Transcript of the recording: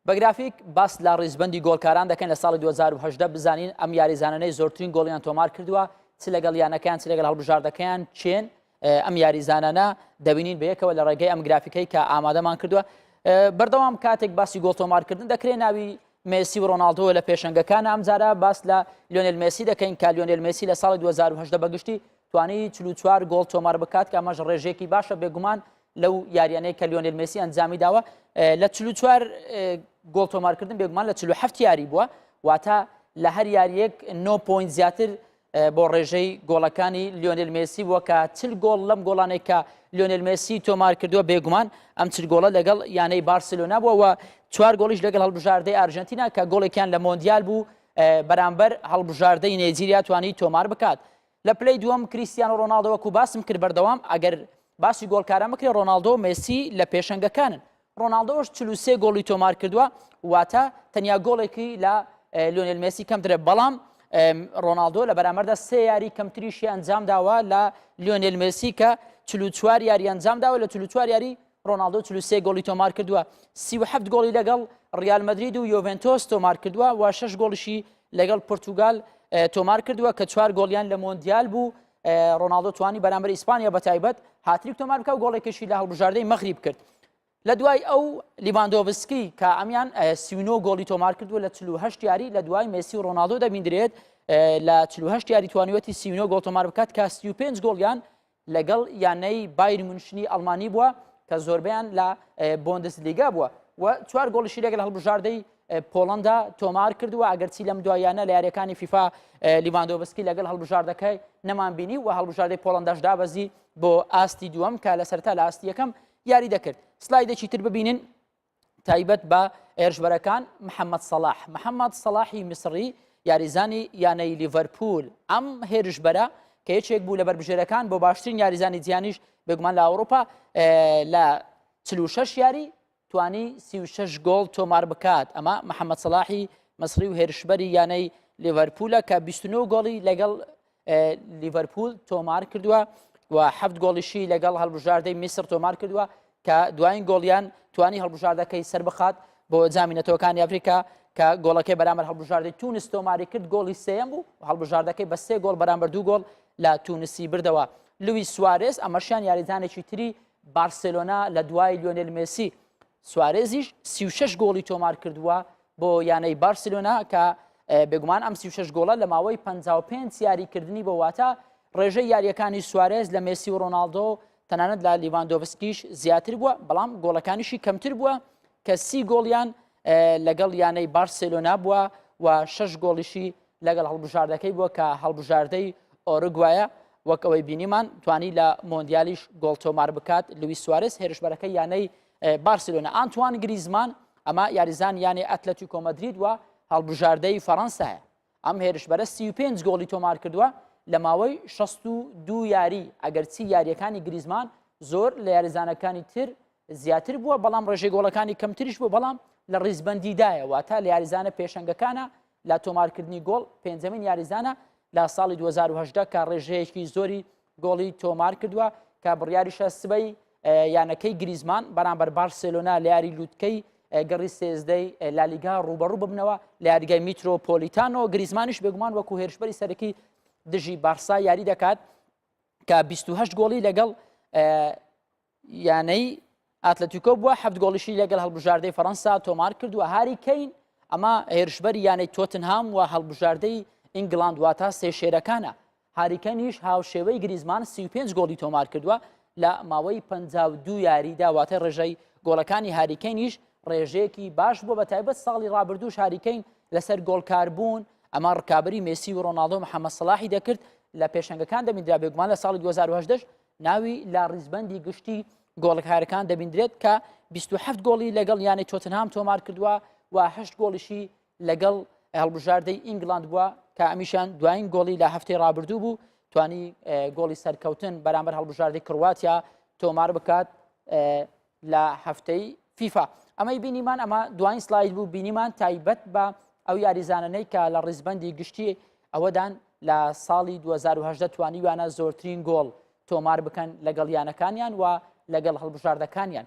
بە گرافیک باس لە ڕیزبەندی گۆڵکاران دەکەن لە ساڵی 2010 بزانین ئەم یاریزانانەی زۆرترین گۆڵیان تۆمار کردووە چ لەگەڵ یانەکەیان چ لەگەڵ هەڵبژاردەکەیان چێن ئەم یاریزانانە دەبینین بە یەکەوە لە ڕێگەی ئەم گرافیکەی کە ئامادەمان کردووە بەردەوام کاتێک باسی گۆڵ تۆمارکردن دەکرێت ناوی مسی و ڕۆناالدۆ لە پێشنگەکان ئەمجارە باس لە لیۆنل مسی دەکەین کە لیۆنل مسی لە ساڵی 2010 بەگشتی توانی 44 گۆڵ تۆمار بکات کە ئەمەش ڕێژێکی باشە بێگومان لەو یاریانەی کە لیۆنل مسی ئەنجامی داوە لە چلو چوار گۆڵ تۆمارکردن بێگومان لە چلو هەفت یاری بووە واتە لە هەر یاریەک 9 پوین زیاتر بۆ ڕێژەی گۆڵەکانی لیۆنل مسی بووە کە چل گۆڵ لەم گۆڵانێک کە لیۆنل مسی تۆمار کردووە بێگومان ئەم چل گۆڵە لەگەڵ یانەی بارسلۆنا بووە و چوار گۆڵیش لەگەڵ هەڵبژاردەی ئارژەنتینا کە گۆڵێکیان لە مۆندیال بوو بەرامبەر هەڵبژاردەی نێجیریا توانی تۆمار بکات لە پلەی دووەم کریستیانۆ ڕۆناڵدۆ وەکو باسم کرد بەردەوام ئەگەر باسی گۆڵکاران بکرێ ڕۆناڵدۆ مێسی لە پێشەنگەکانن ڕۆناڵدۆش 43 گۆڵی تۆمار کردووە واتە تەنیا گۆڵێکی لە لۆنێل مێسی کەمترە بەڵام ڕۆناالدۆ لە بەرامەردا سێ یاری کەمتریشی ئەنجام داوە لە لیۆنێل مێسی کە چلوچوار یاری ئەنجام داوە لە چلوچوار یاری ڕۆناڵدۆ چل و سێ گۆڵی تۆمار کردووە، سی و حەفت گۆڵی لەگەڵ ڕیال مەدرید و یۆڤێنتۆس تۆمار کردووە و شەش گۆڵیشی لەگەڵ پورتوگال اه، تۆمار کردووە کە چوار گۆڵیان لە مۆندیال بوو اه، ڕۆناڵدۆ توانی بەرامبەر ئیسپانیا بە تایبەت هاتریک تۆمار بکە و گۆڵێکیشی لە هەڵبژاردەی مەغریب کرد لە دوای ئەو لیڤاندۆڤسکی کە ئەمیان اه، سی و نۆ گۆڵی تۆمار کردووە لە چل و هەشت یاری لە دوای مێسی و ڕۆناڵدۆ دەبیندرێت اه، لە چل و هەشت یاری توانیوەتی سی و نۆ گۆڵ تۆمار بکات کە سی و پێنج گۆڵیان لەگەڵ یانەی بایر مونشنی ئەڵمانی بووە کە زۆربیان لە بۆندس لیگا بووە و چوار گۆڵیشی لەگەل هەڵبژاردەی پۆڵندا تۆمار کردووە ئەگەرچی لەم دوایانە لە یاریەکانی فیفا لیواندۆبسکی لەگەل هەڵبژاردەکەی نەمان بینی و هەڵبژاردەی پۆڵنداش دابەزی بۆ ئاستی دووەم کە لە سەرتا لە ئاستیەکەم یاری دەکرد سلایدێکی تر ببینن تایبەت بە هێرشبەرەکان محەممەد سەلاح محەممەد سەلاحی میسڕی یاریزانی یانەی لیڤەرپول ئەم هێرشبەرە کە یەکێک بوو لە بەربژێرەکان بۆ باشترین یاریزانی جیانیش بێگومان لە ئەوروپا لە چ شش یاری توانی سی شش گۆڵ تۆمار بکات ئەمە محەممەد سەلاحی مەسری و هێرشبەری یانەی لیڤەرپولە کە 29 گۆڵی لەگەڵ لیڤەرپوول تۆمار کردووە و هەفت گۆڵیشی لەگەڵ هەڵبژاردەی میسر تۆمار کردووە کە دوایین گۆڵیان توانی هەڵبژاردەکەی سەر بخات بۆ جامی نەتەوەکانی ئەفریقا کە گۆڵەکەی بەرامەر هەڵبژاردەی تونس تۆماری کرد گۆڵی سێم بوو هەڵبژاردەکەی بە سێ گۆڵ بەرامبەر دوو گۆڵ لە تونسی بردەوە لوی سوارێز ئەمەشیان یاریزانێکی تری بارسلۆنا لە دوای لیۆنل مسی سوارێزیش سی و شەش گۆڵی تۆمار کردووە بۆ یانەی بارسلۆنا کە بێگومان ئەم سی و شەش گۆڵە لە ماوەی پ پێنج یاریکردنی بۆ واتە ڕێژەی یاریەکانی سوارێز لە مێسی و ڕۆناالدۆ تەنانەت لە لیڤاندۆڤسکیش زیاتر بووە بەڵام گۆڵەکانیشی کەمتر بووە کە سی گۆڵیان لەگەڵ یانەی بارسلۆنا بووە و شش گۆڵیشی لەگەڵ هەڵبژاردەکەی بووە کە هەڵبژاردەی ئۆرگوایە وەک ئەوەی بینیمان توانی لە مۆندیالیش گۆڵ تۆمار بکات لوی سوارز هێرشبەرەکە یانەی بارسلۆنە ئانتوان گریزمان ئەمە یاریزان یانێ ئەتلەتی کۆمەدرید وە هەڵبژاردەی فەڕەنسایە ئەم هێرشبەرە 35 گۆڵی تۆمار کردووە لە ماوەی 62 یاری ئەگەرچی یاریەکانی گریزمان زۆر لە یاریزانەکانی تر زیاتر بووە بەڵام ڕێژێ گۆڵەکانی کەمتریش بوو بەڵام لە ڕیزبندیدایە واتە لە یاریزانە پێشەنگەکانە لە تۆمارکردنی گۆڵ پێنجەمین یاریزانە لە ساڵی 2010 کە ڕێژەیەکی زۆری گۆڵی تۆمار کردووە کە بڕیاریشە سبەی یانەکەی گریزمان بەرامبەر بارسلۆنا لە یاری لووتکەی گەڕی سێزدەی لالیگا ڕوبەڕوو ببنەوە لە یاریگای میترۆپۆلیتانۆ گریزمانیش بێگومان وەکو هێرشبەری سەرەکی دژی بارسا یاری دەکات کە 28 گۆڵی لەگەڵ یانەی ئاتلەتیکۆ بووە هەفت گۆڵیشی لەگەڵ هەڵبژاردەی فەەنسا تۆمار کردووە هاری کەین ئەمە هێرشبەر یانەی تۆتنهام و هەڵبژاردەی ئینگلاند واتە سێ شێرەکانە هاریکەنیش هاوشێوەی گریزمان 35 گۆڵی تۆمار کردووە لە ماوەی 52 یاری داواتە ڕێژەی گۆڵەکانی هاریکەنیش ڕێژەیەکی باش بووە بە تایبەت ساڵی ڕابردوو شاریکەین لەسەر گۆڵکاربوون ئەمە ڕکابی مسی و ڕۆناالدۆ محەممە سلاحی دەکرد لە پێشنگەکان دەمیدرا بێگومان لە ساڵی 2010 ناوی لە ڕیزبەندی گشتی گۆڵکارەکان دەبیندرێت کە 27 گۆڵی لەگەڵ یانەی تۆتنهام تۆمار کردووە و هەشت گۆڵیشی لەگەڵ هەڵبژاردەی ئینگلاند بووە کە ئەمیشان دوایین گۆڵی لە هەفتەی رابردوو بوو توانی گۆڵی سەرکەوتن بەرامبەر هەڵبژاردەی کڕواتیا تۆمار بکات لە هەفتەی فیفا ئەمەی بینیمان ئەمە دوایین سلاید بوو بینیمان تایبەت بە ئەو یاریزانانەی کە لە ڕیزبندی گشتی ئەوەدان لە ساڵی 2010 توانیویانە زۆرترین گۆڵ تۆمار بکەن لەگەڵ یانەکانیان و لەگەڵ هەڵبژاردەکانیان